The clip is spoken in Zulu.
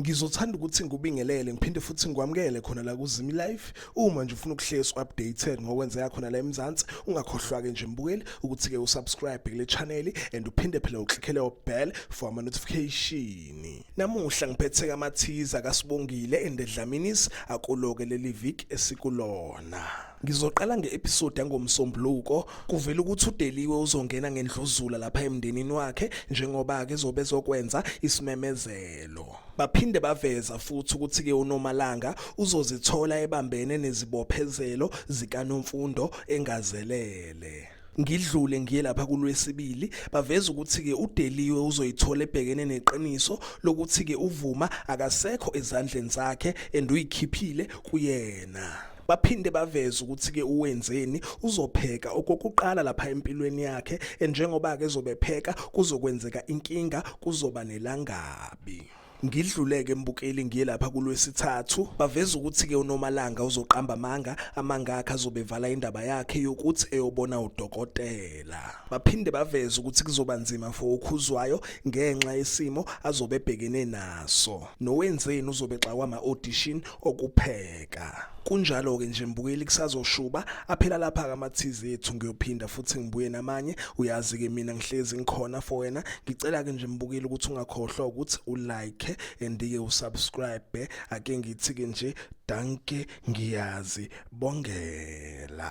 ngizothanda ukuthi ngikubingelele ngiphinde futhi ngikwamukele khona la kuzimi life uma nje ufuna ukuhlezi updated ngokwenzeka khona la eMzansi ungakhohlwa ke nje mbukeli ukuthi ke usubscribe kule channel and uphinde phela uklikhele ubell for ama notification namuhla ngiphethe kamathiza kasibongile endedlaminis akuloke leli week esikulona Ngizoqala nge-episode yangoMsombuluko kuvela ukuthi uDeliwe uzongena ngendluzula lapha emndenini wakhe njengoba ke zobe zokwenza isimemezelo. Baphinde baveza futhi ukuthi ke uNomalanga uzozithola ebambene nezibophezelo zikaNomfundo engazelele. ngidlule ngiye lapha kulwesibili baveza ukuthi ke uDeliwe uzoyithola ebhekene neqiniso lokuthi ke uvuma akasekho ezandleni zakhe and uyikhiphile kuyena Baphinde baveze ukuthi ke uwenzeni uzopheka okokuqala lapha empilweni yakhe njengoba ke zobepheka kuzokwenzeka inkinga kuzoba nelangabi. Ngidluleke mbukeli ngiye lapha kulwesithathu baveza ukuthi ke uNomalanga uzoqamba amanga amanga akhe azobevala indaba yakhe yokuthi eyobona udokotela. Baphinde baveza ukuthi kuzoba nzima for ukhuzwayo ngenxa yesimo azobebhekene naso. Nowenzeni uzobe xakwa ama audition okupheka kunjalo-ke nje mbukeli kusazoshuba aphela lapha-ke ama-tz ethu ngiyophinda futhi ngibuye namanye uyazi-ke mina ngihlezi ngikhona for wena ngicela-ke nje mbukeli ukuthi ungakhohlwa ukuthi ulike and-ke usubscribe ake ngithi-ke nje danke ngiyazi bongela